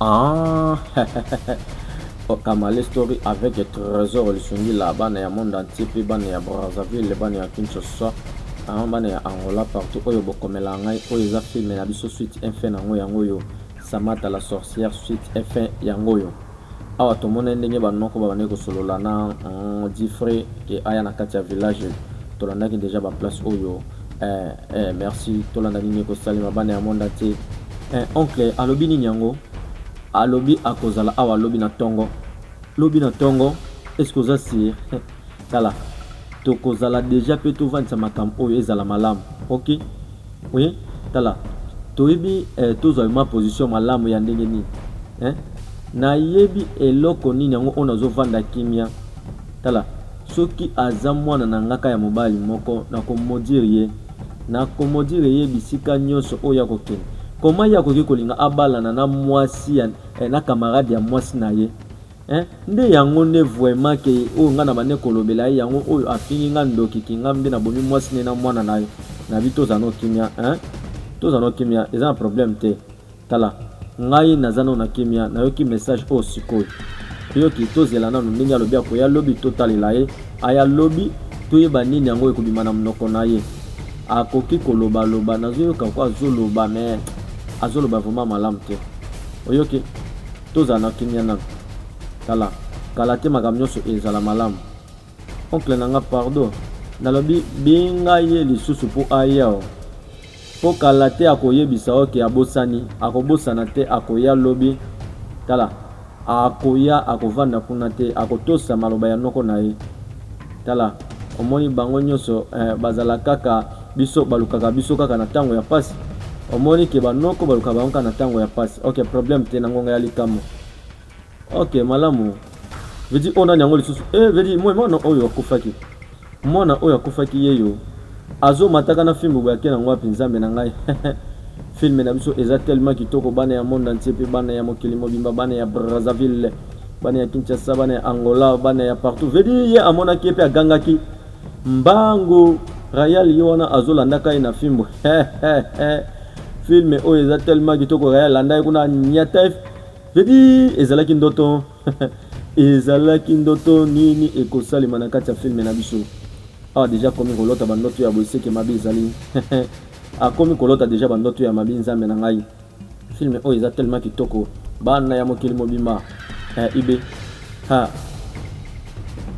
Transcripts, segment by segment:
Ah, Okamale Story avec Trésor Lisungila, bana ya monde entier mpe bana ya Brazzaville, bana ya Kinshasa, bana ya Angola partout oyo bokomela ngai oyo eza filme na biso suite infin na yango yango oyo Samata la sorcière suite et fin yango oyo. Awa tomonai ndenge ba noko babandaki kosolola na mm, Difre ke aya na kati ya village. Tolandaki deja ba place oyo. Eh, eh, merci. Tolanda nini ekosalema bana ya monde entier. Eh, oncle alobi nini yango? Alobi akozala awa lobi na tongo. Lobi na tongo? Est-ce que oza sur? Tala toko zala deja pe to vandisa makambo oyo ezala malamu ok oui tala toyebi eh, tozwa vraiment position malamu ya ndenge nini eh? nayebi eloko nini yango oyo nazovanda kimia tala soki aza mwana na ngaka ya mobali moko nakomodire ye nakomodire ye bisika nyonso oyo akokende koma ye akoki kolinga abalana na mwasi ya, eh, na kamarade ya mwasi na ye Hein nde yango nde vraiment ke oyo nga na bande kolobela ye yango oyo afingi nga ndoki kingam nde na bomi mwasi ne na mwana na na bi toza no kimia hein toza no kimia eza na problème te tala ngai naza no na kimia nayoki message oyo oh, sikoyo oyoki tozela nanu ndenge alobi akoya lobi totalela ye aya lobi toyeba nini yango ekobima na monoko na ye akoki kolobaloba nazoyoka ko azoloba me azoloba vraimen malamu te oyoki Tozala na kimia na kala kala te makambo nionso ezala malamu. Oncle na nga pardon nalobi benga ye lisusu po aya o po kala te akoyebisa yo ke abosani akobosana te akoya lobi tala akoya akovanda kuna te akotosa maloba ya noko na ye tala omoni bango nionso eh, bazala kaka Biso balukaka biso kaka na tango ya pasi omoni ke ba noko balukaka bango kaka na tango ya pasi ok problème te na ngonga ya likambo ok malamu vedi oyo nani yango lisusu eh vedi moi mwana oyo akufaki mwana oyo akufaki yeyo azomataka na fimbu boye ake nango wapi nzambe na ngai filme na biso eza tellement kitoko bana ya monde entier mpe bana ya mokili mobimba bana ya brazzaville bana ya kinshasa bana ya angola bana ya partout vedi ye amonaki ye mpe agangaki Mbango Rayal ye wana azo landa kai na fimbo film oyo eza tellement kitoko Rayal landa ye kuna nyata vedi ezalaki ndoto ezalaki ndoto nini ekosalema na kati ya filme na biso awa deja akomi kolota bandoto ya boye seke mabe ezali akomi kolota deja bandoto ya mabe nzambe na ngai Film oyo eza tellement kitoko bana ya mokili mobimba eh, ibe ha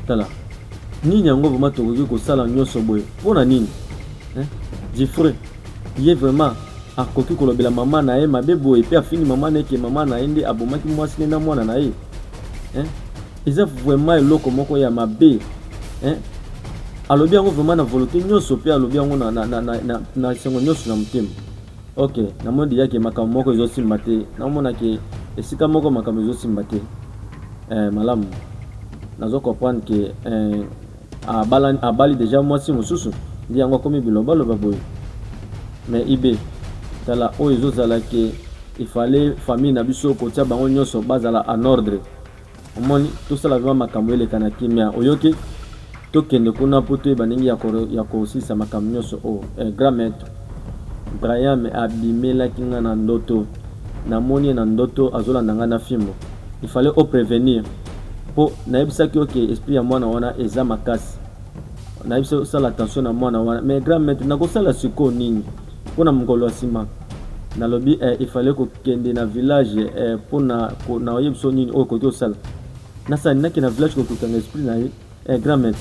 tala nini yango vraiment tokoki kosala nyonso boye mpo na nini eh? Jeffrey ye vraiment akoki kolobela mama na ye mabe boye mpe afini mama na ye ke mama na ye nde abomaki mwasi ne na mwana na ye eh? eza vraiment eloko moko ya mabe eh? alobi yango vraiment na volonté nyonso mpe alobi yango na, na, na, na, na, na esengo nyonso na motema Ok, namoni deja ke makambo moko ezosimba te, naomona ke esika moko makambo ezosimba te. Eh, malamu nazo comprendre ke eh, abala, abali deja mwasi mosusu ndi yango akomi bilobaloba boye. Mais ibe tala oyo ezozala ke ifale famille na biso kotia bango nyonso bazala en ordre. omoni tosala vrema makambo eleka na kimia oyoki tokende kuna mpo toyeba ndenge ya kosilisa makambo nyonso oyo eh, grand maître brian abimelaki ngai na ndoto namoni ye na ndoto azolanda ngai na fimbo il fallait o prevenir mpo nayebisaki yo ke esprit ya mwana wana eza makasi nayebisi osala attention na mwana wana mais grand maître nakosala sikoyo nini Mpo na mokolo ya nsima, nalobi eh, il fallait kokende na village eh, mpo na ko, na oyebisa yo nini oyo okoki osala. Nasani nake na village kokokanga esprit na ye eh, grand maître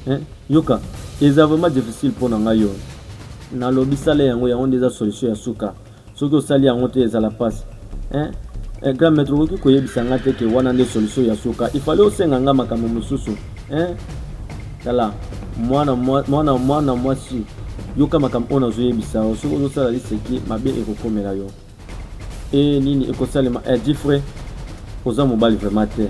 eh, yoka eza vraiment difficile mpo na ngai yo. Nalobi sala yango, yango nde eza solution ya suka. Soki osali yango te ezala pasi. eh? Eh, grand maître okoki koyebisa nga te ke wana nde solution ya suka il fallait osenga nga makambo mosusu eh? tala mwana mwana mwana mwasi yoka makambo oyo nazoyebisa yo soki ozosala liseki mabe ekokomela yo e nini ekosalema eh, difre oza mobali vraiment te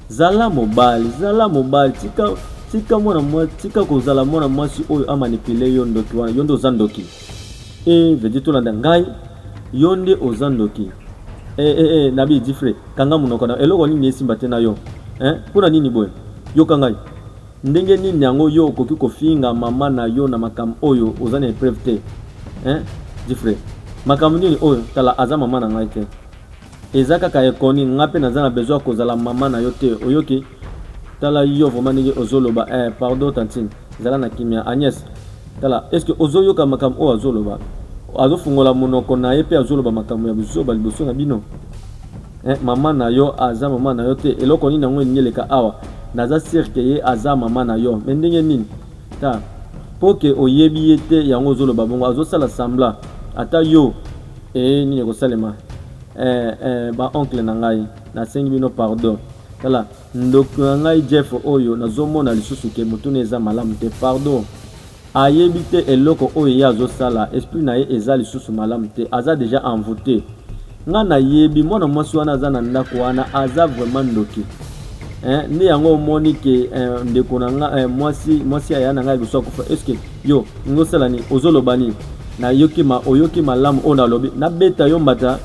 zala mobali zala mobali tika tika mwana mwasi tika kozala mwana mwasi oyo amanipule yo ndoki wana yo nde oza ndoki Eeh vedite olanda ngai yo nde oza ndoki eh, eh, eh, nabi difre kanga munoko na eloko nini esimba te na yo eh, pona nini boye yoka ngai ndenge nini yango yo okoki kofinga mama na yo na makambo oyo oza na epreuve te eh, difre makambo nini oyo tala aza mama na ngai te Eza kaka ekoni nga pe naza na besoin kozala maman na yo te oyoki tala yo vraiment ndenge ozoloba eh pardon tantine zala na kimia Agnès tala est-ce que ozoyoka makambo oyo azoloba azofungola monoko na ye pe azoloba makambo ya buzoba liboso na bino eh, mama na yo aza mama na yo te eloko nini yango elingi eleka awa naza sire ke ye aza mama na yo me ndenge nini ta mpo ke oyebi ye te yango ozoloba bongo azosala sambla ata yo Ee nini ekosalema eh, eh, ba oncle na ngai nasengi bino pardon tala ndoki na ngai jeff oyo nazomona lisusu ke motuna eza malamu te pardon ayebi te eloko oyo ye azosala esprit na ye eza lisusu malamu te aza deja envoute nga nayebi mwana mwasi wana aza na ndako wana aza vraiment ndoki eh, nde yango omoni ke eh, ndeko na nga eh, mwasi mwasi aya na ngai liboso akufa eske Yo ngo sala ni ozo loba ni na yoki ma oyoki malamu ona lobi na beta yo mbata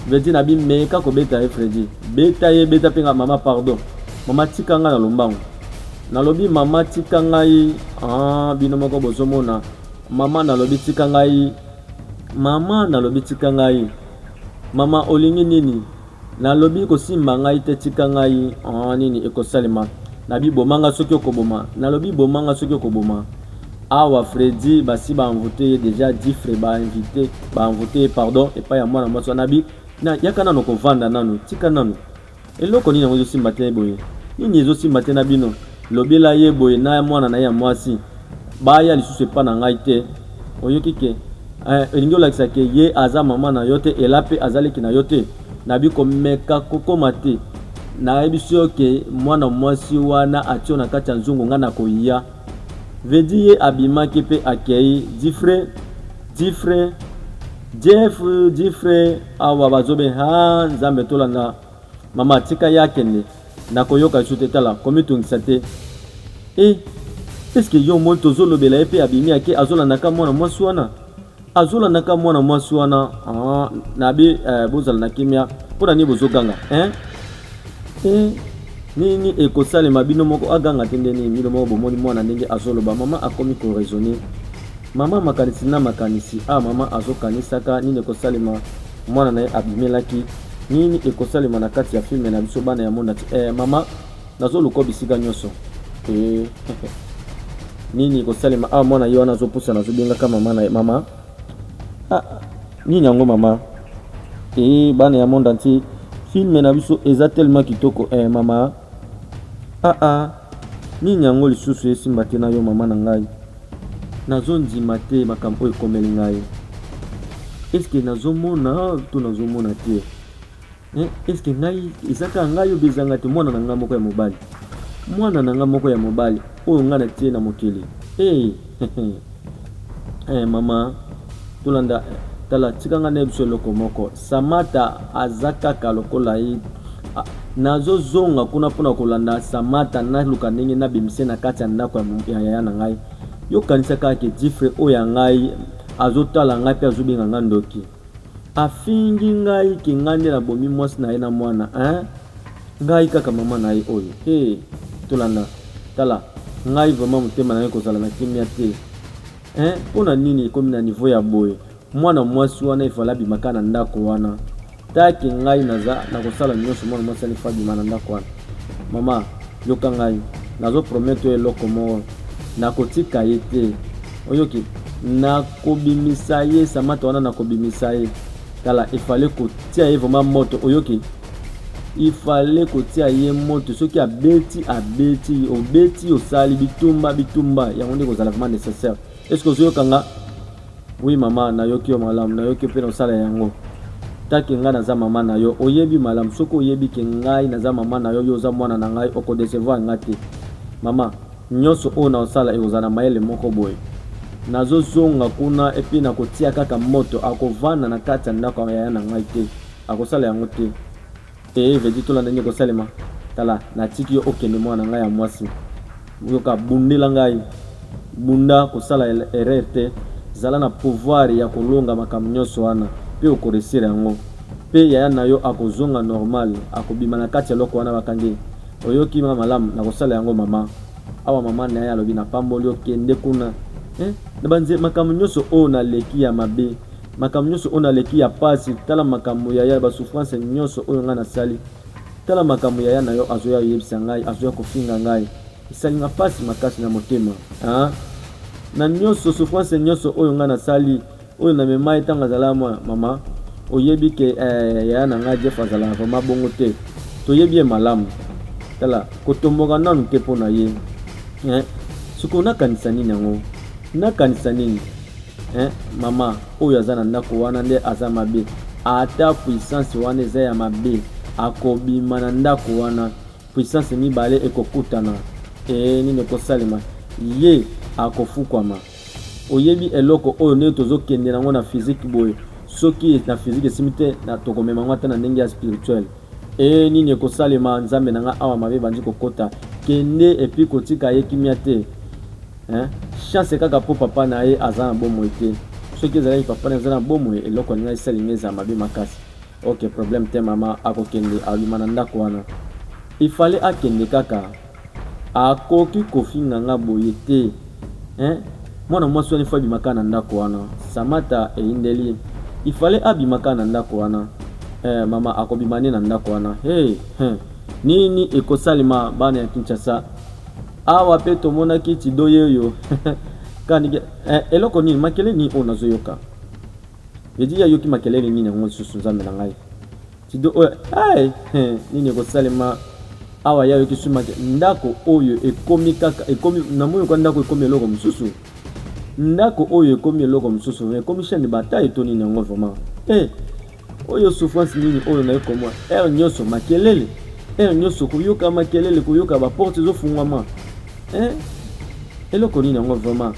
Fredi na bi meka ko beta ye Fredi beta ye beta penga mama pardon mama tika nga na lombango na lobi mama tika ngai ah bino moko bozo mona mama na lobi tika ngai mama na lobi tika ngai mama olingi nini Na lobi kosimba ngai te tika ngai aah nini ekosalema na bi boma nga soki oko boma na lobi boma nga soki oko boma awa Freddy basi ba envoute ye dejà diffre ba invite ba envoute ye pardon epai ya mwana mwasi wana bi na yaka nano ko vanda nano tika nano eloko nini yango ezo simba te boye nini ezo simba te na bino Lobela ye boye na mwana na ye ya mwasi baya lisusu epa na ngai te oyoki ke eh, olingi olakisa ke ye aza mama na yo te ela pe aza leki na yo te na bi komeka kokoma te na yebisi yo ke mwana mwasi wana atio na kati ya nzungu nga na koya vedi ye abimaki pe akei difre difre Jeff Difre awa bazobe haa nzambe tolanda Maman tika ye akende nakoyoka lisusu te tala komitungisa te e eske yo omoni tozolobela ye mpe abimi ake azolandaka mwana mwasi wana azolandaka mwana mwasi wana ah, na be eh, bozala na kimia mpo na nini bozoganga eh? eh, nini ekosalema bino moko aganga te nde nini bino moko bomoni mwana ndenge azoloba mama akomi koraisonne mama makanisi na makanisi a ah, mama azokanisaka nini ekosalema Mwana na ye abimelaki. Nini ekosalema na kati ya filme na biso bana ya monde entier? Eh mama, nazoluka bisika nyonso. Eh, nini ekosalema awa? Mwana ye wana azopusana, azobengaka mama na ye mama. Ah, nini yango mama? Eh, bana ya monde entier, filme na biso eza tellement kitoko. Eh mama, ah ah. Nini yango lisusu esimba te na yo mama na ngai? Nazo ndima te makambo oyo ekomeli ngai. Est-ce que nazo mona to nazo mona te? Eh, est-ce que ngai eza kaka ngai oyo bezanga te mwana na ngai moko ya mobali? Mwana na ngai moko ya mobali oyo ngai natie na mokili. Eh, Eh maman tolanda tala tika nga na biso eloko moko Samata aza kaka lokola ye ah, nazozonga kuna mpona kolanda Samata naluka ndenge nabimise na kati ya ndako ya yaya na ngai yokanisa kaka ke difre oyo ya ngai azotala ngai mpe azobenga ngai ndoki Afingi ngai ke ngai nde na bomi mwasi na ye na mwana hein ngai kaka maman na ye oyo hee tolanda tala ngai vraiment motema na ngai kozala na kimia te hein pona nini ekomi na niveau ya boye mwana mwasi wana ifale abima kaka na ndako wana take ngai naza nakosala nyonso mwana mwasi wana ifo abima na ndako wana mama yoka ngai nazo promettre yo eloko moko nakotika ye te oyoki nakobimisa ye samata wana nakobimisa ye tala efale kotia ye vraimen moto oyoki ifale kotia ye moto soki abeti abeti obeti osali bitumba bitumba yango nde kozala vraimen nécessaire estce ozoyoka nga wi mama nayoki yo malamu nayoki yo mpe naosala yango take ngai naza mama na yo oyebi malamu soki oyebi ke ngai naza mama na yo yo oza mwana na ngai okodecevoir ngai te mama Nionso oyo nakosala ekozala na mayele moko boye. Nazozonga kuna epuis nakotia kaka moto. Akovanda na kati ya ndako ya yaya na ngai te. Akosala yango te. Ee, Vedi, tolanda nini ekosalema. Tala, natiki yo okende, mwana na ngai ya mwasi. Yoka, bundela ngai. Bunda, kosala erreur te. Zala na pouvoir ya kolonga makambo nionso wana. Pe okoresir yango. Pe yaya na yo akozonga normal. Akobima na kati ya eloko wana bakangi. Oyoki nga malamu nakosala yango mama. Awa mama naye alobi na pamboli yo kende kuna eh nabanze makambo nyoso oyo naleki ya mabe makambo nyoso oyo naleki ya pasi tala makambo yaya ba souffrance nyoso oyo nga nasali tala makambo yaya na yo azoya yebisa ngai azoya kofinga ngai esali nga pasi makasi na motema ah na nyoso souffrance nyoso oyo nga nasali Oyo na mema ye tango azalaka mwana mama oyebi ke eh, yaya na nga Jeff azalaka vraiment bongo te toyebi ye malamu tala kotomboka nanu te mpo na ye eh, sikoyo nakanisa nini yango nakanisa nini eh, mama oyo aza na ndako wana nde aza mabe ata puissance wana eza ya mabe akobima na ndako wana puissance mibale ekokutana ee nini ekosalema ye akofukwama Oyebi eloko oyo ndenge tozo kende nango na physique boye soki na physique esimbi te na toko mema ngo ata na ndenge ya spirituel ee nini ekosalema nzambe na nga awa mabe ebandi kokota kende epuis kotika ye kimia te hein chance kaka po papa na ye aza na bomoi te soki ezalaki papa na ye aza na bomoi eloko alinga esali nga eza mabe makasi Ok problème te maman akokende aluma na ndako wana il fallait akende kaka akoki kofinga nga boye te hein mwana mwasi wana ifo abima kaka na ndako wana samata eyindeli il fallait abima kaka na ndako wana eh, mama akobima nde na ndako wana hey, hey. nini ekosalema bana ya kinshasa awa mpe tomonaki tidoye oyo kanike eh, eloko nini makele nini oyo nazoyoka Eddy ayoki makelele nini yango lisusu nzambe na ngai tido oyo hey, nini ekosalema awa ya yoki sumaki ndako oyo ekomi kaka ekomi na moyo kwa ndako ekomi eloko mosusu ndako oyo ekomi eloko mosusu ekomi chaine bataille to nini yango vraiment eh oyo souffrance nini oyo naye komwa heure nyonso makelele heure nyonso koyoka makelele koyoka baporte ezofungwama eh eloko nini yango vraiment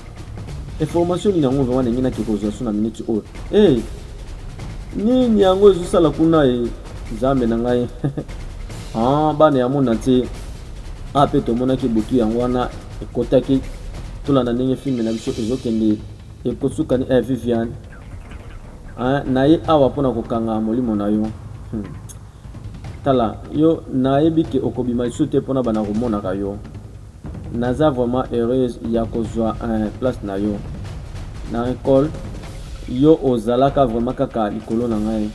information nini yango vraiment ndenge nake kozwa so na minute oyo hey, eh, nini yango ezosala kuna e nzambe na ngai ah, bana ya mona te a ah, mpe tomonaki butu yango wana ekotaki tolanda ndenge filme na biso ezokende ekosuka ni eh, viviane ah, naye awa mpo na kokanga molimo na yo hmm. tala yo nayebi ke okobima lisusu te mpo na bana komonaka yo Naza vraiment heureuse ya kozua eh, place na yo na Ecole yo ozalaka vraiment kaka likolo na ngai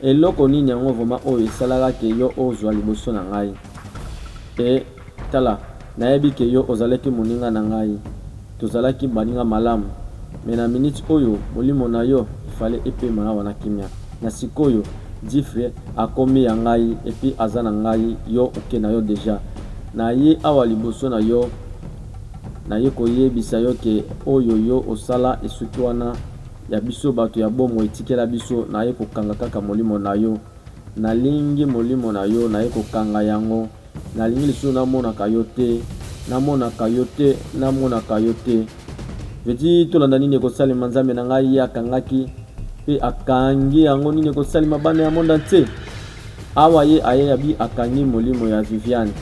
eloko nini yango vraiment oyo esalaka ke yo ozua liboso na ngai e tala nayebi ke yo ozalaki moninga na ngai Tozalaki baninga malamu mais na minute oyo molimo na yo il fallait epema awa na kimia na sikoyo Djifre akomi ya ngai et puis aza na ngai yo oke na yo dejà na ye awa liboso na yo na ye ko yebisa yo ke oyo yo osala esuki wana ya biso batu ya bomo etikela biso na ye ko kanga kaka molimo na yo na lingi molimo na yo na ye ko kanga yango Nalingi lisusu na monaka yo te Na monaka yo te Na monaka yo te Veti tolanda nini ekosalema Nzambe na ngai ye akangaki Pe akangi yango nini ekosalema Bana ya monde entier Awa ye aye ya bi akangi molimo ya Viviane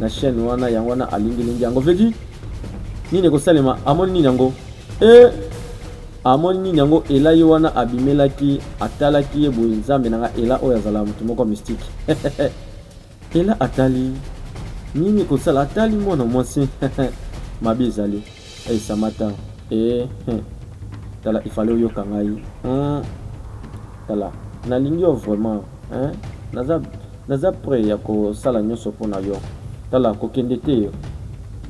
Na chaîne wana yango wana alingi lingi yango Veti nini ekosalema amoni nini yango Eh amoni nini yango ela ye wana abimelaki atalaki ye boye nzambe na nga ela oyo azala moto moko mystique Ella atali nini kosala atali mwana mwasi mabe ezali eh, samata eh, eh. tala ifale oyoka ngai hmm. tala nalingi yo vraiment eh? naza, naza prêt ya kosala nyonso mpo na yo tala kokende te yo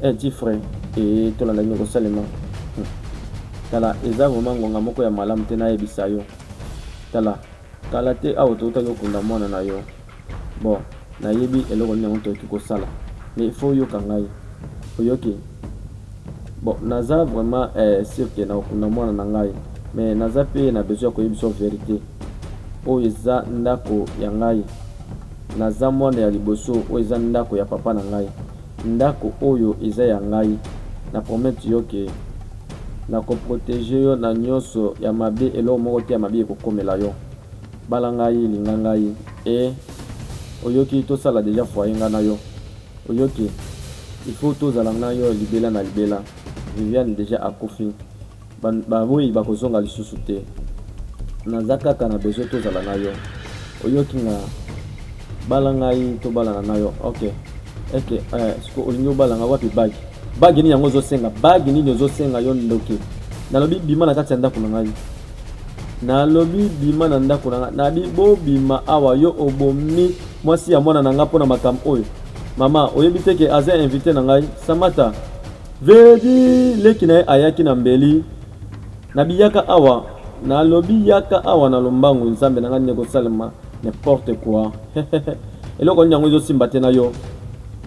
eh, ti frais eh, tolanda nini kosalema hmm. tala eza vraiment ngonga moko ya malamu te nayebisa yo tala Kala te awa towutaki kokunda mwana na yo. Bon, nayebi eloko nini yango tokoki kosala. Mais il faut oyoka ngai. Oyoki? Bon, naza vraiment eh, sur que nakokunda mwana na ngai. Mais naza pe na besoin ya koyebisa yo verite. Oyo eza ndako ya ngai. Naza mwana ya liboso, oyo eza ndako ya papa na ngai. Ndako oyo eza ya ngai. Na promettre yo que nako proteger yo na nioso ya mabe, eloko moko te ya mabe ekokomela yo. Bala ngai, linga ngai eh oyoki, tosala dejà foyer ngai na yo oyoki, il faut tozala ngai na yo libela na libela. Viviane dejà akufi. Ba moyi bako zonga lisusu te. Naza kaka na besoin tozala na yo oyoki nga bala ngai tobalana na yo ok eke eh, siko olingi obala ngai wapi bagi bagi nini yango ozosenga bagi nini ozosenga yo ndoki nalobi bima na kati ya ndako na ngai nalobi bima na ndako na ngai nabi bobima awa yo obomi mwasi ya mwana na ngai mpo na makambo oyo mama oyebi te ke aza invité na ngai samata Veredi leki na ye ayaki na mbeli na biyaka awa nalobi yaka awa na lombangu nzambe na ngai nini ekosalema n'importe quoi eloko nini yango ezosimba te na yo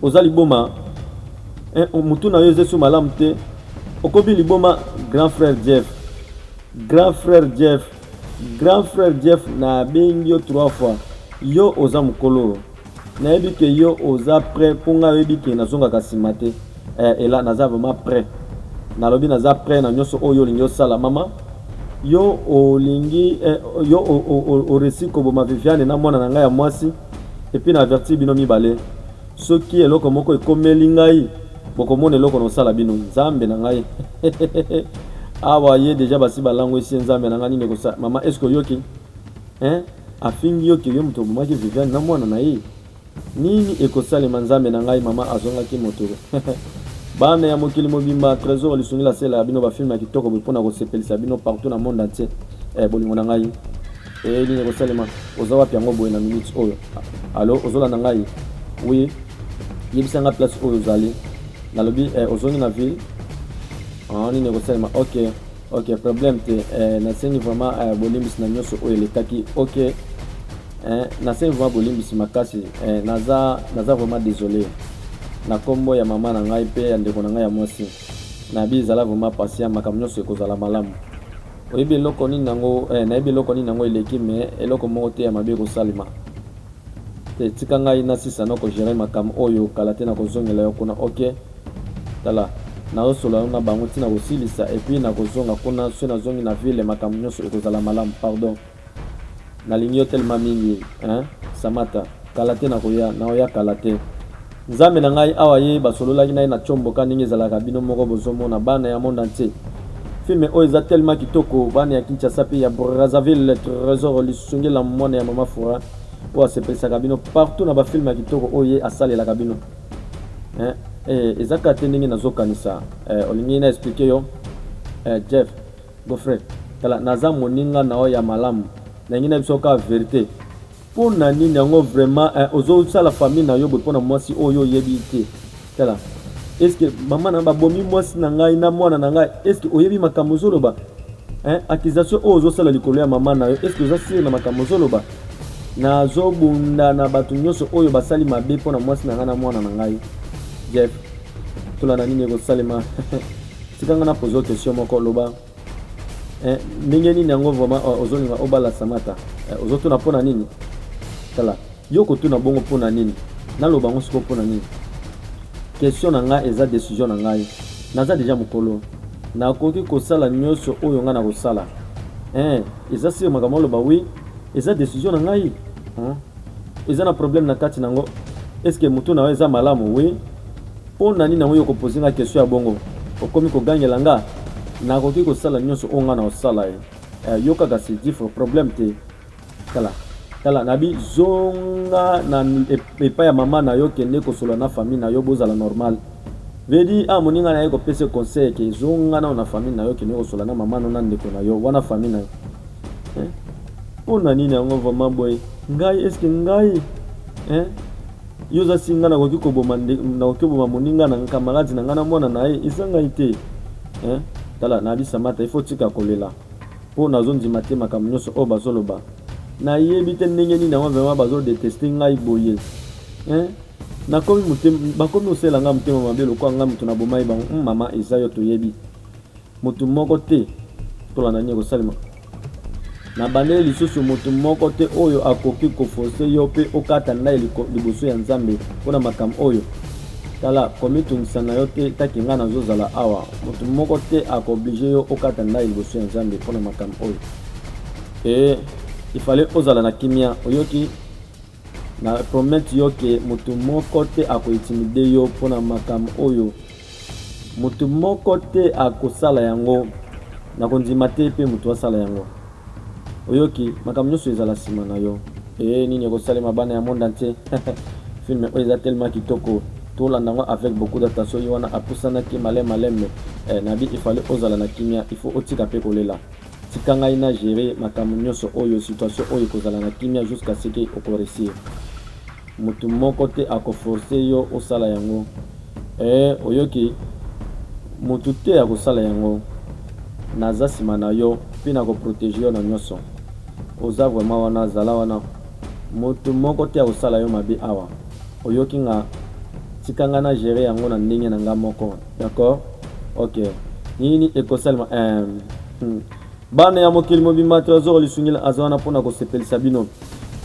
oza liboma eh, motu na yo ezesu malamu te okobi liboma grand frère jeff grand frère jeff grand frère jeff nabengi yo trois fois yo oza mokolo nayebi ke yo oza prêt mpo ngai oyebi ke nazongaka nsima te eh, ela naza vraiment prêt nalobi naza prêt na nyonso oyo olingi osala mama yo olingi eh, yo oresi koboma viviane na mwana na ngai ya mwasi epuis na avertir bino mibale soki eloko moko ekomeli ngai bokomona eloko nosala bino nzambe na ngai awa ye deja basi balangwisi ye nzambe na ngai nini ekosala mama eske oyoki Hein afingi yo que yo moto obomaki Viviane na mwana na ye? Nini ekosalema nzambe na ngai mama azongaki moto Bana ya mokili mobimba Tresor lisungi la sela ya bino ba film ya kitoko boye pona kosepelisa bino partout na monde entier eh, bolingo na ngai eh, nini ekosalema oza wapi yango boye na minute oyo alo ozolanda ngai oui yebisa ngai place oyo ozali nalobi eh, ozongi na ville ah, nini ekosalema ok ok problème te eh, nasengi vraiment eh, bolimbisi na nyonso oyo elekaki ok eh, nasengi vraiment bolimbisi makasi eh, naza, naza vraiment désolé na nkombo ya mama na ngai mpe ya ndeko na ngai ya mwasi nayebi ezala vraiment patient makambo nyonso ekozala malamu oyebi eloko nini yango eh, nayebi eloko nini yango eleki me eloko moko te ya mabe ekosalema Te tika ngai na sisa noko gerer makambo oyo kala te nako zongela yo kuna ok tala nazo solola nanu na bango ti nako silisa et puis nako zonga kuna soki na zongi na ville makambo nionso eko zala malamu pardon na lingi yo tellement mingi hein samata kala te nako ya nao ya kala te. Nzambe na ngai awa ye basololaki na ye na chombo ka ndenge ezalaka bino moko bozomona bana ya monde entier filme oyo eza tellement kitoko bana ya Kinshasa pe ya Brazzaville Tresor lisunge la mwana ya mama Fura oyo asepelisaka bino partout na ba filme ya kitoko oyo ye asalelaka bino eh, eh, eza kaka te ndenge nazokanisa eh, olingi na explike yo eh, Jeff Gofre tala naza moninga na yo ya malamu nalingi na biso kaka verite Pona nini yango vraiment eh, ozo sala famille na yo boye pona mwasi oyo oyebi te tala eske mama na babomi mwasi na ngai na mwana na ngai eske oyebi makambo ozoloba eh, accusation oyo ozosala likolo ya mama na yo eske oza sire na makambo ozoloba nazobunda na bato nyonso oyo basali mabe mpo na mwasi na ngai na mwana na ngai jeff tolanda nini ekosalema tika ngai na pozo question moko loba eh, ndenge nini yango vraiment oh, ozolinga obala samata eh, ozotuna mpo na nini tala yo kotuna bongo mpo na nini naloba yango sikoyo mpo na nini question na ngai eza décision na ngai naza deja mokolo nakoki kosala nyonso oyo ngai nakosala eh, eza sire makambo aloba wi eza décision na ngai eza na problème na kati nango eske motu na yo eza malamu wi Pona nini yango yo ko poser nga question ya bongo okomi ko gangela nga nakoki kosala nionso oyo nga na osala ye eh, yo kaka c'est diffre problème te tala tala nabi zonga na epa ya mama na yo kende kosolola na famille na yo bozala normal vedi ah moninga na ye kopesa conseil ke zonga nao na famille na yo kende kosolola na mama no na ndeko na yo wana famille na yo eh? mpo na nini yango vraiment boye ngai eske ngai eh? Yo oza si nga nakoki koboma nakoki koboma moninga na nkamaladi na nga na mwana na ye eza ngai te eh? tala na alisa mata ifo tika kolela mpo nazondima te makambo nyonso oyo bazoloba nayebi te ndenge nini yango vraimen bazodeteste ngai boye eh? nakomi bakomi osela ngai motema mabe lokola ngai moto nabomai bango hmm, mama eza yo toyebi Moto moko te, tolanda nini ekosalema. Nabandeli lisusu, moto moko te oyo akoki koforce yo mpe okata ndai liboso ya Nzambe mpo na makambo oyo. Tala, komitungisa na yo te, taki ngai nazozala awa. Moto moko te akooblige yo okata ndai liboso ya Nzambe mpo na makambo oyo. Ee, ifale ozala na kimia, oyoki? Na promettre yo que mutu moko te ako intimider yo pona makambo oyo. Mutu moko te ako sala yango. Nako ndima te pe mutu asala yango. Oyoki? Makambo nionso ezala sima na yo. Hee nini eko salema bana ya monde entier film oyo eza tellement kitoko to landa ngo avec beaucoup d'attention ye wana apusanaki malin malin mais eh nabi il fallait ozala na kimia il faut otika pe kolela. Tika ngai na gerer makambo nionso oyo, situation oyo ekozala na kimia jusqu'à ce que oko reussir. Mutu moko te ako forcer yo osala yango eeh oyoki? Mutu te akosala yango, naza sima na yo mpe nako proteger yo na nionso. Oza vraiment wana, zala wana. Mutu moko te akosala yo mabe awa, oyoki nga? Tika ngai na gerer yango na ndenge na ngai moko. D'accord. Ok. Nini ekosalema? Um, hmm. Bana ya mokili mobimba Tresor Lisungila aza wana mpo na kosepelisa bino.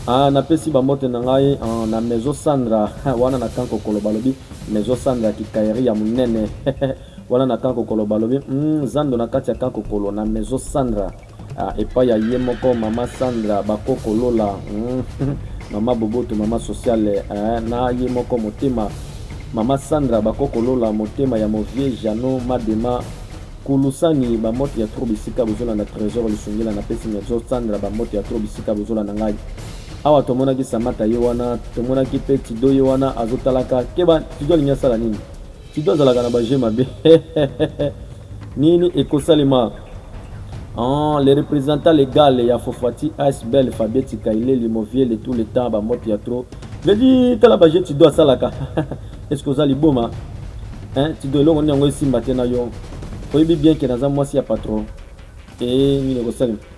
Ah, napesi bambote na ngai ah, na Maison Sandra wana na kanko koloba lobi Maison Sandra kikaeri ya monene wana na kanko koloba lobi mm, zando na kati ya kanko kolo na Maison Sandra Ah, epai ya ye moko mama Sandra bakoko lola hmm. mama boboto mama sociale eh, na ye moko motema mama Sandra bakoko lola motema ya movie Jeannot Madema kulusani bamote ya tro bisika bozolanda trésor lisungila na pesi nyazo Sandra bamote ya tro bisika bozolanda ngai awa tomonaki samata ye wana tomonaki mpe tido ye wana azotalaka keba tido alingi asala nini Fido azalaka na ba jeu mabe nini ekosalema ah, le représentant légal ya Fofati Asbel Fabien Tikaile Limovie le tout le temps ba moto ya trop vedi tala ba jeu Tido asalaka est-ce que oza liboma hein Tido eloko nini yango esimba te na yo oyebi bien ke naza mwasi ya patron e nini ekosalema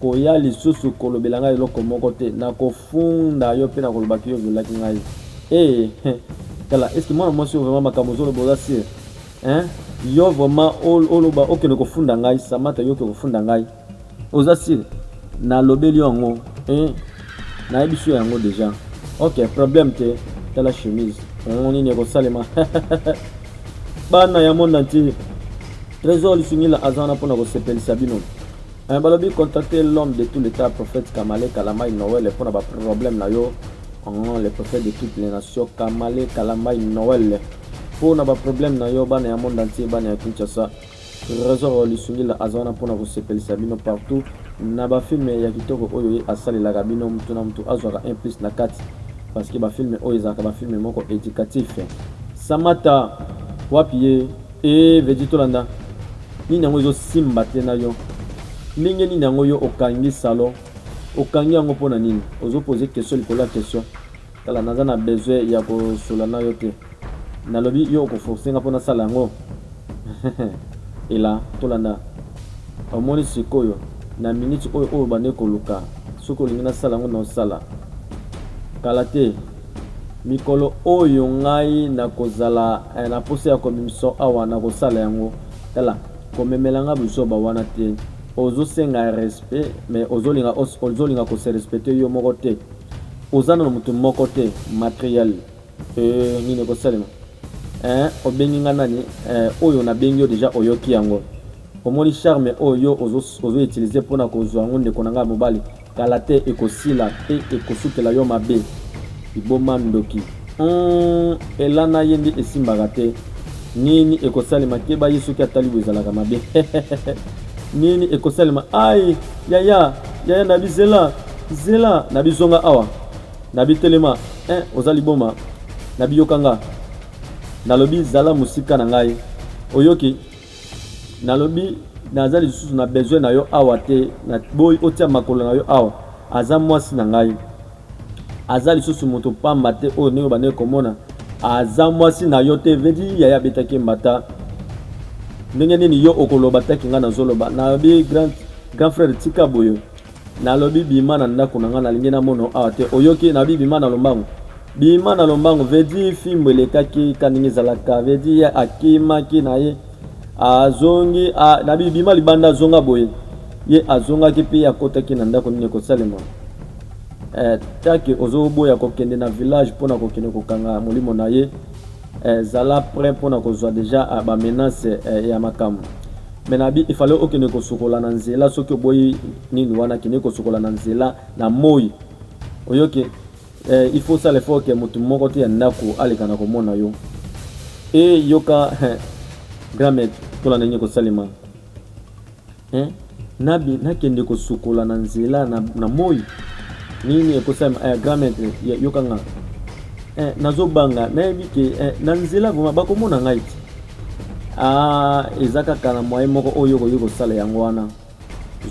Koya lisusu kolobela ngai eloko moko te, nakofunda yo pe nakoloba ke yo oviolaki ngai. Ee, he, tala, est ce que mwana mwasi oyo vraiment makambo ozoloba oza sur? Hein? Yo vraiment oloba okende kofunda ngai, Samata yo okende kofunda ngai. Oza sur? Nalobeli yo yango. Hein? Nayebisi yo yango deja. Ok, problème te. Tala chemise. Yango nini ekosalema? Bana ya monde entier. Trésor Lisungila aza wana mpo na kosepelisa bino. Eh, balobi contacter l'homme de tout l'état prophète Kamale Kalamai Noël pona ba problème na yo en le prophète de toutes les nations Kamale Kalamai Noël pona ba problème na yo bana ya monde entier bana ya Kinshasa Trésor Lisungila aza wana pona kosepelisa bino partout na ba film ya kitoko oyo ye asalelaka bino mutu na mutu azwaka un plus na kati parce que ba film oyo ezalaka ba film moko éducatif Samata wapi ye Ee eh, Veggie tolanda nini yango ezosimba te na yo ndenge nini yango yo okangi salon okangi yango mpo na nini ozopoze question likolo ya question tala naza na besoin ya kosola na yo te nalobi yo okoforce nga mpo nasala yango ela tolanda omoni sikoyo na miniti oyo oyo bande koluka soki olingi nasala yango na osala kala te Mikolo oyo ngai nakozala eh, na posa ya komimso awa nakosala yango. Tala, komemela ngai buzoba wana te. Ozosenga respect, mais ozolinga ozolinga ko se respecter yo moko te. Oza na mutu moko te materiel. Euh, nini ekosalema? Eh, obengi ngai nani? Eh, oyo nabengi yo deja oyoki yango. Omoni charme oyo yo ozo utilise pona kozua yango ndeko na nga ya mobali kala te ekosila pe ekosukela yo mabe liboma ndoki humm elana ye nde esimbaka te nini ekosalema keba ye soki atali bo ezalaka mabe nini ekosalema ai yaya yaya na bizela zela na bizonga awa na bitelema eh oza liboma na biyoka nga nalobi zala mosika na ngai oyoki Nalobi naza lisusu na besoin na yo awa te, na boyi otia makolo na yo awa. Aza mwasi na ngai, aza lisusu moto pamba te oyo ndenge obandaki komona. Aza mwasi na yo te, vedi yaya abetaki mbata. Ndenge nini yo okoloba taki ngai nazoloba? Nalobi grand, grand frère tika boye. Nalobi bima na ndaku na nga nalingi na mono awa te oyoki nabi bima na lombangu bima na lombangu vedi fimbu elekaki ka ndenge ezalaka vedi ye akimaki na ye azongi a, nabi bima libanda azonga boye ye azongaki mpe ye akotaki na ndako nini ekosalema eh, take ozoboya kokende na village mpo na kokende kokanga molimo na ye eh, zala prêt mpo na kozwa deja eh, bamenace eh, ya makambo Mais nabi il fallait okende kosokola na nzela soki oboyi nini wana kende kosokola na nzela na moi oyoki eh, il faut sala effort ke motu moko te ya ndako aleka na komona yo e yoka eh, grand maître tola ndenge kosalema eh, nabi nakende kosokola na nzela na, na moi nini ekosalema eh, grand maître yoka nga eh, nazobanga nayebi ke eh, na nzela vraimen bakomona ngai te Ah, eza kaka na moyen moko oyo okoki kosala yango wana.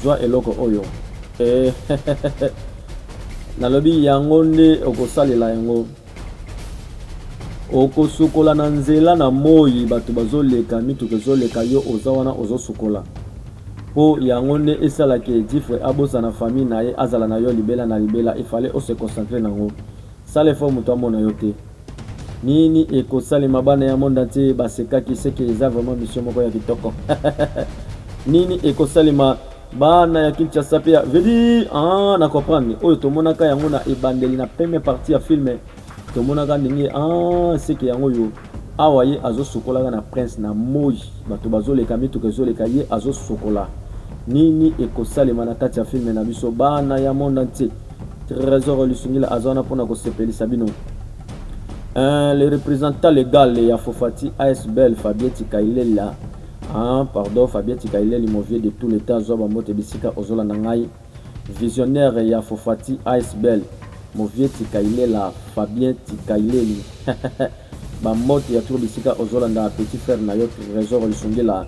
Zwa eloko oyo. Eh, nalobi yango nde okosalela yango. Okosukola na nzela na moi bato bazoleka mituka ezoleka yo oza wana ozosukola mpo yango nde esalaka edifre abosana famille na ye azala na yo libela na libela efale ose concentre na yango sala efo moto amona yo te Nini ekosalema bana ya monde entier basekaki seke eza vraiment mission moko ya kitoko nini ekosalema bana ya Kinshasa pe ya vedi ah na comprendre oyo tomonaka yango na ebandeli na première partie ya film tomonaka ndenge ah seke yango yo awa ye azosukolaka na prince na moi bato bazoleka mituka ezoleka ye azosukola nini ekosalema na kati ya filme na biso bana ya monde entier Tresor Lusingila aza wana mpona kosepelisa bino. Euh, le représentant légal ya Fofati ASBL Fabien Tikailela ah, pardon Fabien Tikaileli mon vieux de tout le temps zwa bambote bisika ozolanda ngai visionnaire ya Fofati ASBL mon vieux Tikailela Fabien Tikaileli bambote ya tour bisika ozolanda petit frère na yo Trésor Lisungila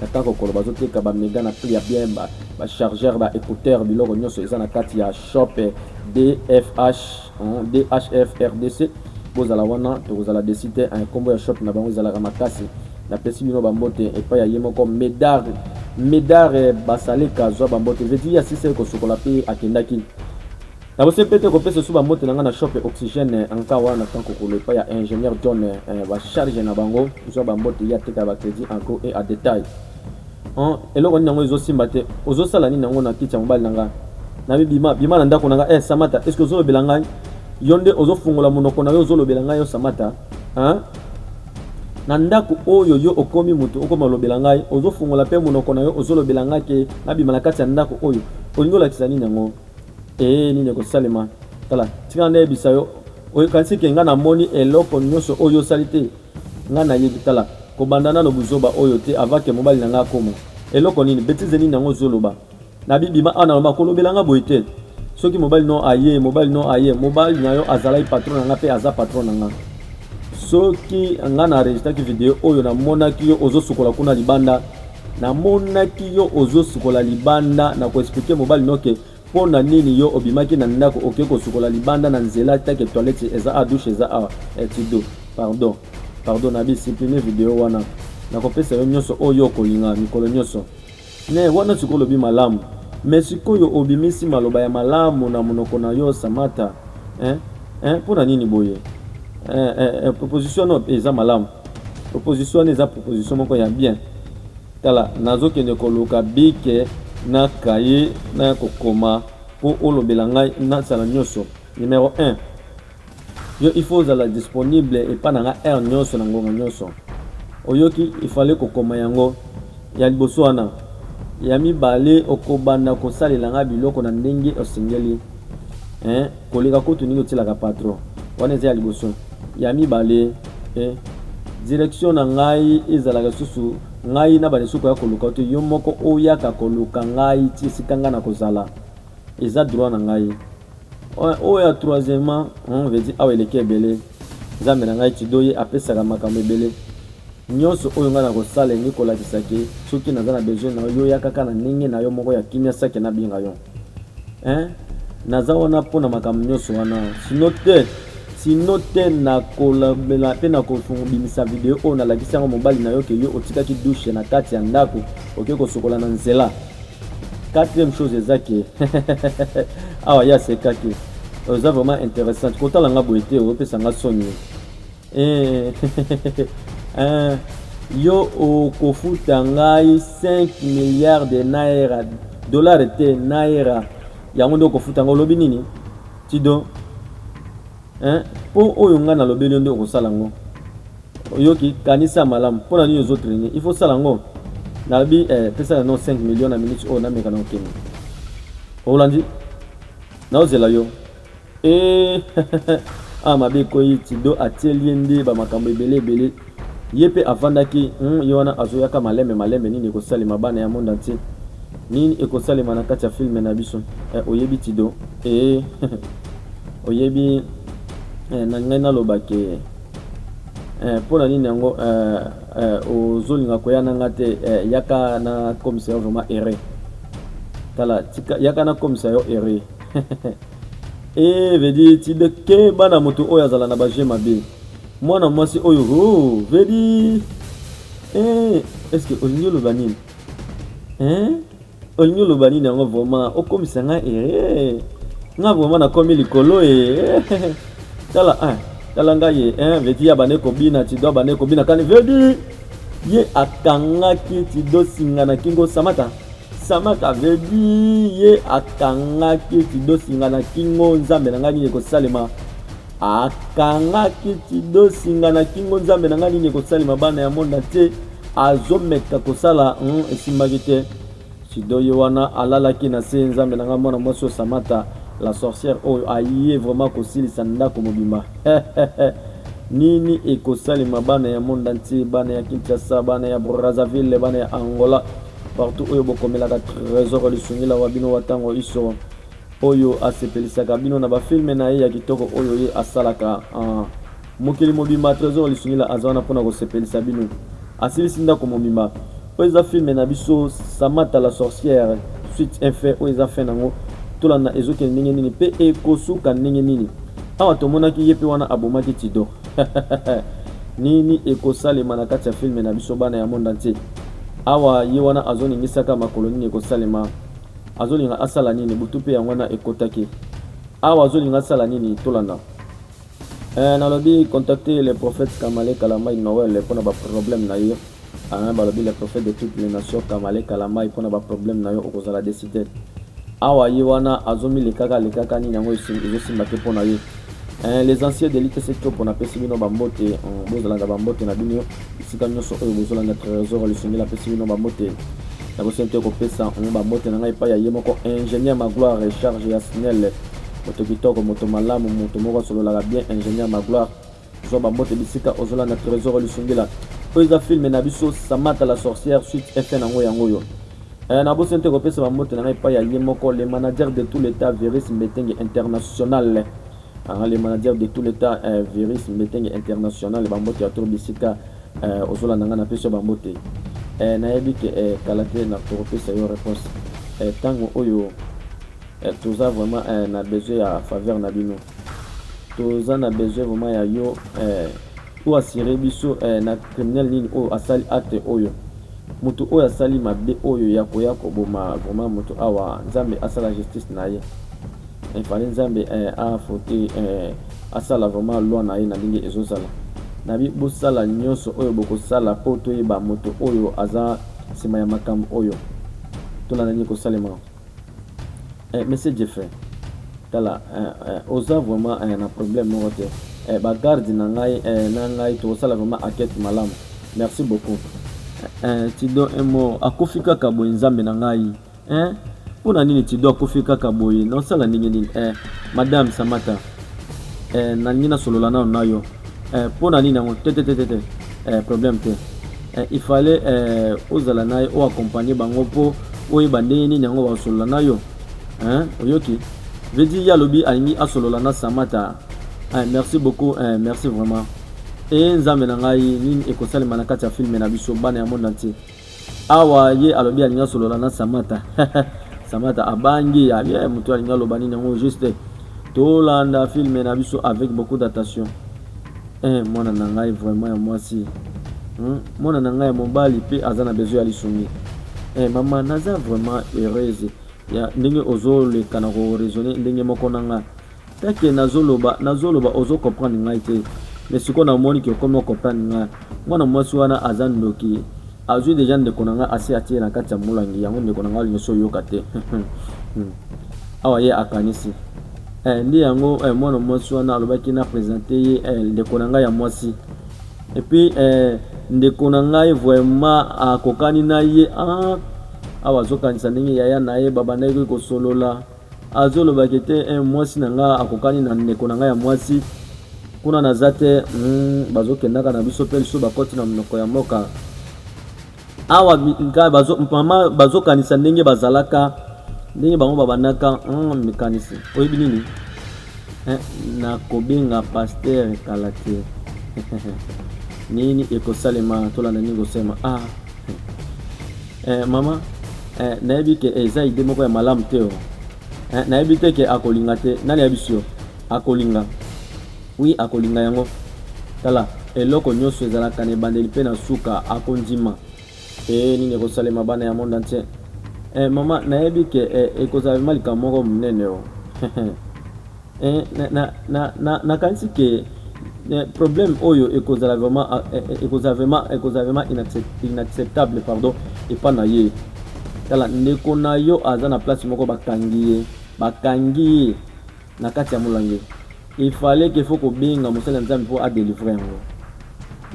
Kaka kokolo bazoteka ba mega na prix ya bien ba, ba chargeur ba écouteur biloko nyonso eza na kati ya shop DFH hein, DHF RDC bozala wana tokozala desi te hein, kombo ya shop na bango ezalaka makasi napesi bino bambote epai ya ye moko medar medar basaleka zwa bambote vedi ya sisa ekosukola mpe akendaki Na bosembe mpe kopesa esu bambote na ngai na shop Oxygène Ankawa na camp Kokolo epai ya ingénieur John eh, ba charge na bango zwa bambote ye ateka ba crédit en gros et à détail en eloko nini yango ezosimba te ozosala nini yango na kiti ya mobali na ngai na bima bima na ndako na ngai eh Samata est-ce que ozolobela ngai yo nde ozofungola monoko na yo ozolobela ngai yo Samata hein na ndako oyo yo okomi moto okoma olobela ngai ozofungola mpe monoko na yo ozolobela ngai ke nabima na kati ya ndako oyo olingi olakisa nini yango Ee, nini ekosalema? Tala, tika nga nayebisa yo, okanisi ke nga namoni eloko nyonso oyo yo osali te? Nga nayebi, tala, kobanda nano buzoba oyo te, avant ke mobali na nga akoma. Eloko nini? Betize nini yango ozoloba? Nabi bima awa na lomba, kolobela nga boye te. Soki mobali no aye, mobali no aye, mobali na yo azalaki patron na nga pe aza patron na nga. Soki nga na enregistraki video oyo, namonaki yo ozosukola kuna libanda, Na monaki yo ozo sukola libanda na ko expliquer mobali no ke mpo na nini yo obimaki na ndako oke kosukola libanda na nzela take toilette eza a douche eza a etido pardon pardon na bisiplime video wana nakopesa yo nyonso oyo okolinga mikolo nyonso ne wana sikoyo olobi malamu me sikoyo obimisi maloba ya malamu na monoko na yo samata eh? eh? mpo na nini boye eh, eh, eh, proposition no eza malamu Proposition wana eza proposition moko ya bien tala nazo kende koluka bic na cahier naya kokoma po olobela ngai nasala nioso numero un yo il faut ozala disponible epa na nga heure nioso na ngonga nioso oyoki il fallait kokoma yango ya liboso wana ya mibale okobanda kosalela nga biloko na ndenge osengeli eh koleka kutu ndenge otielaka patro wana eza ya liboso. Ya mibale, e, direction na ngai ezalaka lisusu ngai na bande soko ya koluka yo te, yo moko oyaka koluka ngai ti esika ngai nakozala. Eza droit na ngai. Oyo, oyo ya troisièmement, hum, veut dire awa eleki ebele. Nzambe na ngai Tidoye apesaka makambo ebele. Nionso oyo ngai nakosala elingi kolakisa ke soki naza na besoin na yo, yo yaka kaka na ndenge na yo moko ya kimia sake nabinga yo. Hein naza wana pona makambo nionso wana sino te sino te nakolobela mpe nakobimisa video oyo nalakisi yango mobali na yo ke yo otikaki dushe na kati ya ndako oke kosokola na nzela quatrième chose eza ke awa ye asekaki oza vraiment intéressante kotala nga boye te opesa nga soni Eh, yo okofuta ngai 5 milliards de naira dollar te naira yango nde okofuta ngai olobi nini tido mpo oyo ngai nalobeli yo nde okosala yango oyoki kanisa malamu mpo na nini ozotraine il faut sala yango nalobi eh, pesa na no 5 million na minute oyo nameka na okende olandi naozela yo Eh, ah mabe koyi tido atieli ye nde bamakambo ebele ebele ye mpe afandaki hmm, ye wana azoyaka malembe malembe nini ekosalema bana ya monde entier nini ekosalema na kati ya filme na biso eh, oyebi tido eh, oyebi eh, na ngai naloba ke eh, mpo na nini yango eh, eh, ozolinga koya na ngai te eh, yaka na komisa yo vraiment ere tala tika yaka na komisa yo ere Eh, vedi tide ke bana moto oyo azala na baje mabe mwana mwasi oyo ho oh, vedi eh, eske olingi oloba nini eh? olingi oloba nini yango vraimen okomisa ngai ere nga vraimen nakomi likolo e tala eh, tala ngai ye eh, vedi ya bane kobina tido bane kobina kani vedi ye akangaki tido singa na kingo samata Samak avait dit ye akangaki Tidosi nga na kingo nzambe na nga nini ekosalema akangaki Tidosi nga na kingo nzambe na nga nini ekosalema bana ya mona te azomeka kosala hmm, esimbaki te sido ye wana alalaki na se nzambe na nga mwana mwasi oyo samata la sorcière oyo aye vraiment kosilisa ndako mobimba nini ekosalema bana ya mona te bana ya kinshasa bana ya brazzaville bana ya angola Partout oyo bokomelaka Tresor Lisungila wa bino wa ntango iso oyo asepelisaka bino na bafilme na ye ya kitoko oyo ye asalaka uh, mokili mobimba. Tresor Lisungila aza wana mpo na kosepelisa bino, asilisi ndako mobimba. Oyo eza filme na biso Samata la sorcière suite un fait oyo eza fin nango, tolanda ezokende ndenge nini mpe ekosuka ndenge nini. Awa tomonaki ye mpe wana abomaki Tidor. Nini ekosalema na kati ya film na biso bana ya monde entier? Awa ye wana azoningisaka makolo nini ekosalema? Azolinga asala nini? Butu pe yango wana ekotaki. Awa azolinga asala nini? Tolanda. Eh, nalobi contacter le prophète Kamale Kalambay Noël mpo na ba problème na ye. Hein balobi le prophète de toutes les nations kamale kalambay pona ba problème na yo okozala decite awa ye wana azo milekaka lekaka nini yango ezo simba te pona ye hein les anciens de l'ITC Chopo na pesi bino ba mbote hmm, bozalaka ba mbote na bino esika nyonso oyo bozolanda trésor lisenge na pesi bino ba mbote nakoseni te kopesa hmm, ba mbote na ngai epai ya ye moko ingénieur magloire recharge ya snel moto kitoko moto malamu moto moko asololaka bien ingénieur magloire Zwa ba mbote bisika ozo landa Tresor Lisungila. Oyo eza film na biso Samata la sorcière suite effet na ngo yango yo. Eh, na bosi nte kopesa ba mbote na ngai epai ya ye moko le manager de tout l'etat Virus Mbetenge International. Ah, le manager de tout l'etat eh, Virus Mbetenge International ba mbote ya tour bisika eh, ozo landa ngai na pesi ba mbote. Eh, nayebi ke eh, kala te na kopesa yo réponse. Eh, tango oyo eh, toza vraiment eh, na besoin ya faveur na bino. toza na besoin vraiment ya yo eh, o asire biso eh, na criminel nini oyo asali acte oyo moto oyo asali mabe oyo ya koya koboma vraiment moto awa nzambe asala justice na ye efale eh, nzambe eh, afote eh, asala vraiment loi na ye na ndenge ezozala na bi bosala nyonso oyo bokosala mpo toyeba moto oyo aza nsima ya makambo oyo tolanda nini kosalema eh, monsieur jeffrey tala eh, eh, oza vraiment eh, na problème moko te eh, bagarde na ngai eh, na ngai tokosala vraiment akete malamu merci beaucoup eh, eh, tido emo akufi kaka boye nzambe na ngai eh, mpo na nini tido akufi kaka boye naosala ndenge nini eh, madame samata eh, nalingi nasolola nano na yo eh, mpo na nini yango tetetetete eh, problème te eh, il fallait eh, ozala na ye oaccompagne bango mpo oyeba ndenge nini yango bakosolola na yo eh, oyoki vedi ye alobi alingi asolola na samata eh, merci beaucoup eh, merci vraiment e nzambe na ngai nini ekosalema na kati ya filme na biso bana ya monde entier awa ye alobi alingi asolola na samata samata abangi abi eh, moto alingi aloba nini yango juste tolanda filme na biso avec beaucoup d'attention eh, mwana na ngai vraiment ya mwasi hmm? mwana na ngai ya mobali mpe aza na besoin ya lisungi eh, mama naza vraiment heureuse ya ndenge ozoleka na koraisonne ndenge moko na ngai Teke nazo loba nazo loba ozo comprendre ngai te mais sikoyo na moni ke okomi o comprendre ngai mwana mwasi wana aza ndoki azwi deja ndeko na ngai asi atiye na kati ya molangi yango ndeko na ngai alingi oyoka te hmm. awa ye akanisi eh, nde yango eh, mwana mwasi wana alobaki na presente ye eh, ndeko na ngai ya mwasi epuis eh, ndeko na ngai vraiment akokani na ye ah, awa azokanisa ndenge yaya na ye babandaki kosolola Azo loba ke te eh, mwasi na nga akokani na ndeko na nga ya mwasi kuna naza te mm, bazo kendaka na biso pe lisusu bakoti na monoko ya mboka awa nka bazo mama bazo kanisa ndenge bazalaka ndenge bango babandaka mm, mikanisi oyebi nini eh, na kobenga pasteur kala te nini ekosalema tolanda nini kosema ah eh, mama eh, nayebi ke eh, eza ide moko ya malamu te oh. eh, nayebi te ke akolinga te nani ayebisi yo akolinga wi akolinga yango tala eloko nyonso ezalaka na ebandeli mpe na suka akondima ee eh, nini ekosalema bana ya monde entier eh, mama nayebi ke eh, ekozala mema likambo moko monene o oh. Eh, na, na, na, na, nakanisi ke eh, problème oyo ekozala vraiment ah, eh, eh, ekozala vraiment ekozala vraiment inacceptable pardon epa na ye tala ndeko na yo aza na place moko bakangi ye bakangi ye na kati ya molange efale ke fo kobenga mosali ya nzambe mpo adelivre yango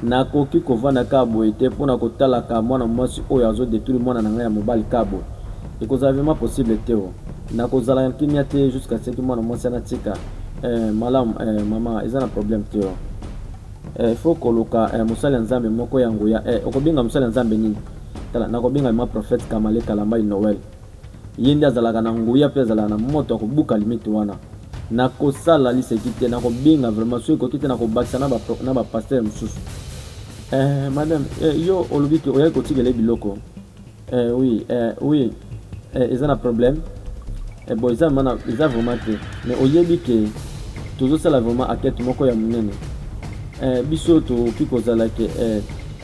Nakoki kovanda kaka boye te pona kotalaka mwana muasi oyo azo detruire mwana na ngai ya mobali kaka boye. Ekozala vraiment possible te oh. Nakozala na kimia te jusqu'à ce que mwana muasi wana atika eh, malamu eh, maman eza na problème te oh. Eh, il faut koluka eh, mosali ya Nzambe moko ya nguya eh, okobenga mosali ya Nzambe nini? Tala, nakobenga ma prophète Kamale Kalambay Noël. Ye nde azalaka na nguya pe azalaka na moto ya kobuka limite wana. Nakosala liseki te, nakobenga vraiment, soki ekoki te nakobakisa na ba, na ba pasteur mosusu. Eh, madame, eh, yo olobi ke oyaki kotikela ye biloko. Eh, oui, eh, oui, eh, eza na problème. Eh, bon, eza vraiment, eza vraiment te. Mais oyebi ke tozosala vraiment enquête moko ya monene. Eh, biso tokoki kozala ke, eh,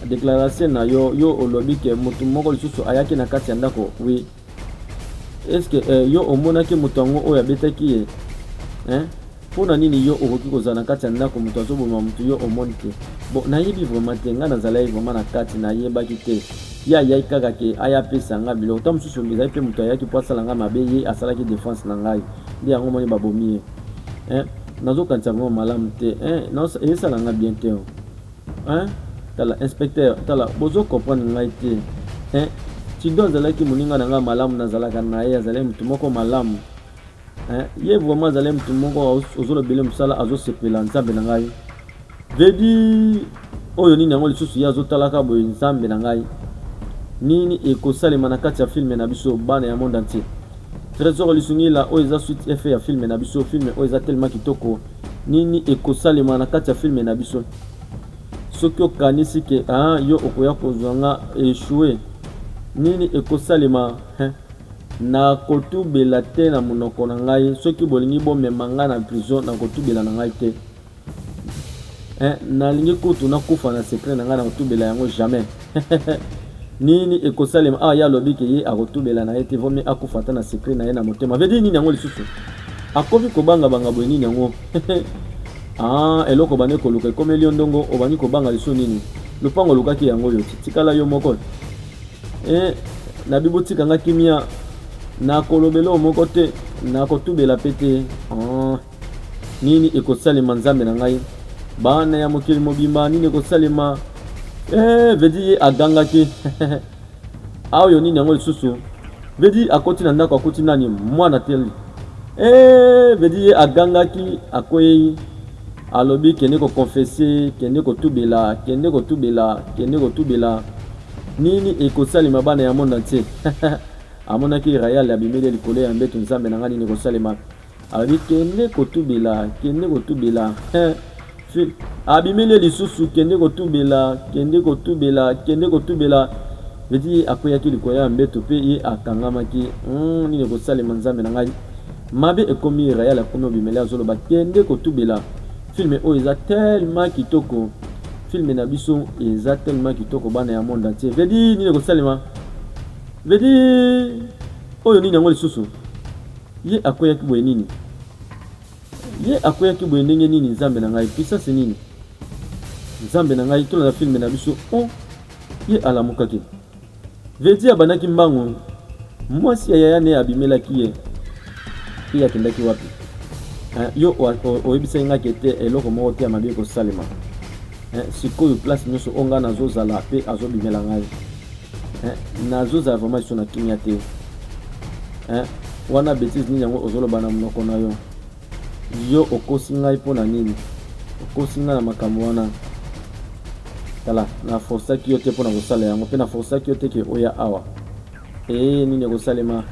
Declaration na yo yo olobi ke mutu moko lisusu ayaki na kati ya ndako oui. Est-ce que eh, yo omonaki mutu yango oyo abetaki ye hein? mpo na nini yo okoki kozala na kati ya ndako moto azoboma moto yo omoni te bon nayebi vraiment te ngai nazalaki vraiment na kati nayebaki te ye ayaki kaka ke aya apesa ngai biloko ntango mosusu ezali mpe moto ayaki mpo asala ngai mabe ye asalaki defense na ngai nde yango moni babomi ye nazokanisa vraiment malamu te esala ngai bien te Hein? Tala inspecteur, tala bozo comprendre ngai te. Hein? Tido azalaki moninga na ngai malamu nazalaka na ye, azalaki moto moko malamu. Hein? Ye vraiment azalaki moto moko ozolobele mosala azosepela nzambe na ngai. Vedi oyo nini yango lisusu ye azotalaka boye nzambe na ngai. Nini ekosalema na kati ya filme na biso bana ya monde entier. Trésor Lisungila oyo eza suite efe ya filme na biso, filme oyo eza tellement kitoko. Nini ekosalema na kati ya film na biso? Soki okanisi ke ah, yo okoya kozwa nga echoue, nini ekosalema hein? Nakotubela te na monoko na ngai, soki bolingi bomema nga na prison, nakotubela na ngai te hein, nalingi kutu nakufa na secret na ngai, nakotubela yango jamais. nini ekosalema awa ah, ye alobi ke ye akotubela na ye te vaut mieux akufa ata na secret na ye na motema vedi nini yango lisusu akomi kobangabanga boye nini yango ah, eloko bande koluka ekomeli yo ndongo obandi kobanga lisusu nini lopango olukaki yango oyo tikala yo moko eh, na bibotika nga kimia nakolobela oyo moko te nakotubela mpe te ah. Nini ekosalema Nzambe na ngai? Bana ya mokili mobimba nini ekosalema? Eh, vedi ye agangaki aoyo nini yango lisusu? Vedi akoti na ndako akuti nani? Mwana teli. Eh, vedi ye agangaki akwei alobi kende kokonfese, kende kotubela, kende kotubela, kende kotubela. Nini ekosalema bana ya monde entier? amonaki Rayal abimeli likolo ya mbeto, Nzambe na ngai nini ekosalema? Alobi kende kotubela, kende kotubela eh. Abimeli ye lisusu kende kotubela, kende kotubela, kende kotubela. Eti ye akweyaki likolo ya mbeto mpe ye akangamaki. Mm, nini ekosalema nzambe na ngai? Mabe ekomi ye, Rayal akomi obimeli azoloba kende kotubela. Filme oyo eza tellement kitoko. Filme na biso eza tellement kitoko bana ya monde entier. Vedi nini ekosalema? Vedi oyo nini yango lisusu? Ye akweyaki boye nini? Ye akweyaki boye ndenge nini? Nzambe na ngai, puissance nini? Nzambe na ngai, tolanda filme na biso. Oh, ye alamukaki. Vedi abandaki mbangu. Mwasi ya yaya ne abimelaki ye. Ye akendaki wapi? Eh, yo oyebisaki ngai ke te eloko moko te ya mabe ekosalema. Eh, sikoyo place nyonso oyo ngai nazozala mpe azobimela ngai. eh, nazozala vraiment liso na kimia te eh, wana betise nini yango ozoloba na monoko na yo yo okosi ngai mpo na nini okosi ngai na makambo wana tala na forsaki yo te mpo na kosala yango mpe na forsaki yo te ke oya awa ee nini ekosalema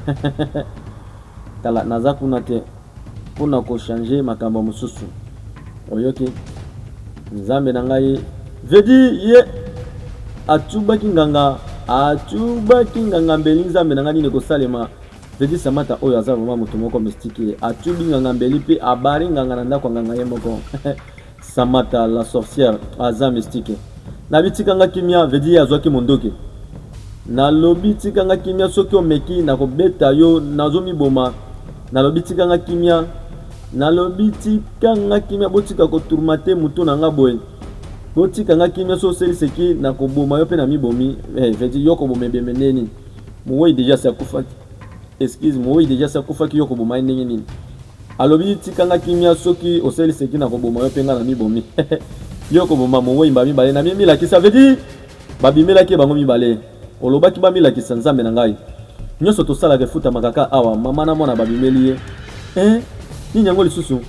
tala naza kuna te Pona ko changer makambo mususu oyoki nzambe na ngai veut dire ye atubaki nganga atubaki nganga mbeli nzambe na ngai nini ekosalema veut dire samata oyo aza vraiment moto moko mystique atubi nganga mbeli pe abari nganga na ndako ya nganga ye moko Samata la sorcière aza mystique. Nabi tika nga kimia veut dire azwaki mondoki. Nalobi tika nga kimia soki omeki nakobeta yo nazo miboma. Nalobi tika nga kimia. Nalobi tika nga kimia botika ko tourmenter mutu na nga boye. Botika nga kimia so oseli seki nakoboma yo pe na mibomi. Eh, veut dire yo koboma ebembe ndeni. Muwei deja si akufaki. Excuse moyi deja asi akufaki yo okoboma ye ndenge nini? Alobi tika nga kimia soki osali seki na koboma yo pe nga na mibomi yo koboma moweyi mbala mibale na milakisa veut dire babimelaki ye bango mibale olobaki bamilakisa nzambe na ngai nyonso tosalaka efutamaka ka awa mama na mwana babimeli ye eh, nini yango lisusu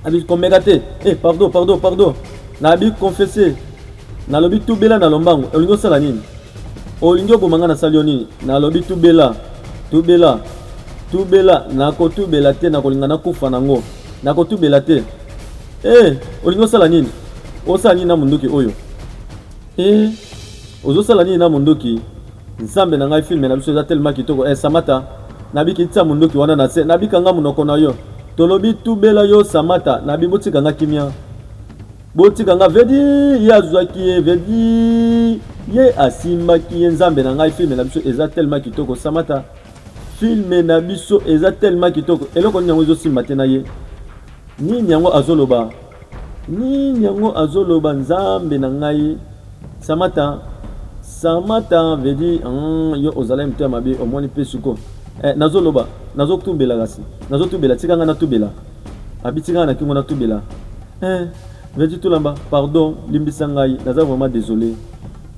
abi komeka te eh, pardon pardon pardon nabi confesse Nalobi tubela na lombangu, olingi osala nini? Olingi oboma nga nasali yo nini? Nalobi tubela, tubela, tubela, nakotubela te, nakolinga nakufa nango, nakotubela te. Eh, olingi osala nini? Osala nini na munduki oyo? Eh, ozosala nini na munduki? Nzambe na ngai, filme na biso eza tellement kitoko. Eh, Samata, nabiki tia munduki wana na se, nabika nga munoko na yo. Tolobi tubela yo Samata, nabi botika nga kimia. botika nga vedi ye azwaki ye vedi ye asimbaki ye nzambe na ngai filme na biso eza tellement kitoko samata filme na biso eza tellement kitoko eloko nini yango ezosimba te na ye nini yango azoloba nini yango azoloba nzambe na ngai samata samata vedi hmm, yo ozalaki moto ya mabe omoni mpe suko eh, nazoloba nazotubela kasi nazotubela tika ngai natubela abitika ngai na kingo natubela Eeh Vertu Tulamba pardon limbisa ngai naza vraiment desole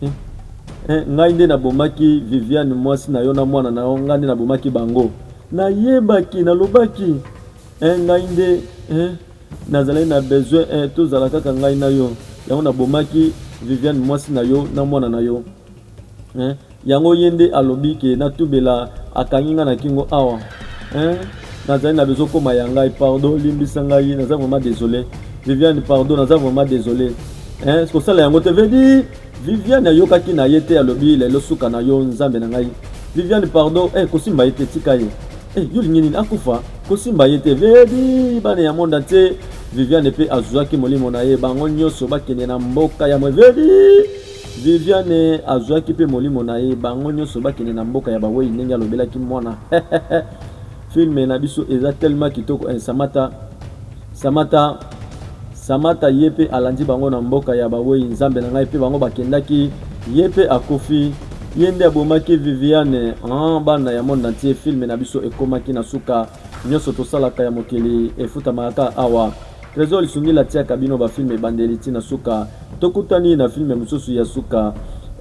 eh, eh, ngai nde nabomaki Viviane mwasi na yo na mwana na yo ngai nde nabomaki bango nayebaki nalobaki eh, ngai nde eh, nazalaki na besoin eh, tozala kaka ngai na yo yango nabomaki Viviane mwasi na yo na mwana na yo eh, Yango ye nde alobi ke na tubela akangi nga na kingo awa hein nazali na besoin koma ya ngai pardon limbisa ngai naza vraiment desole Viviane pardon naza vraiment desole hein kosala yango te veut dire Viviane ayokaki na ye te alobi lelo suka na yo nzambe na ngai Viviane pardon eh kosimba ye te tika ye eh yo lingi nini akufa kosimba ye te veut dire bana ya monde entier Viviane pe azuaki molimo na ye bango nyonso bakende na mboka ya mwe veut dire Viviane azuaki mpe molimo na ye, bango nyonso bakende na mboka ya bawei ndenge alobelaki mwana filme na biso eza tellement kitoko eh, Samata Samata Samata ye mpe alandi bango na mboka ya bawei nzambe na ngai mpe bango bakendaki ye mpe akufi ye nde abomaki Viviane ah, bana ya monde entier filme na biso ekomaki na suka Nionso tosalaka ya mokili efutamaka kaka awa. Tresor Lisungila atiaka bino ba films ebandeli ti na suka. Tokutani na film mosusu ya suka.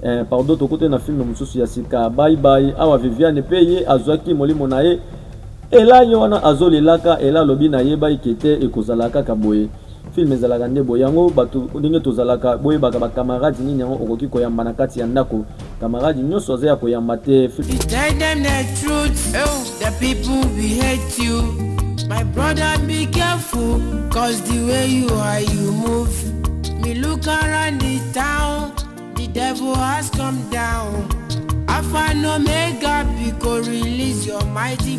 Eh, pardon, tokutani na film mosusu ya sika. Bye bye. Awa Viviane pe ye azuaki molimo na ye. Ella ye wana azo lelaka, Ella alobi na yebaki ke te ekozala kaka boye. Film ezalaka nde boye yango bato ndenge tozalaka boyebaka ba camarade nini yango okoki koyamba na kati ya ndako camarade nyonso aza ya koyamba te My brother be careful cause the way you are you move me look around the town the devil has come down Alpha and Omega because release your mighty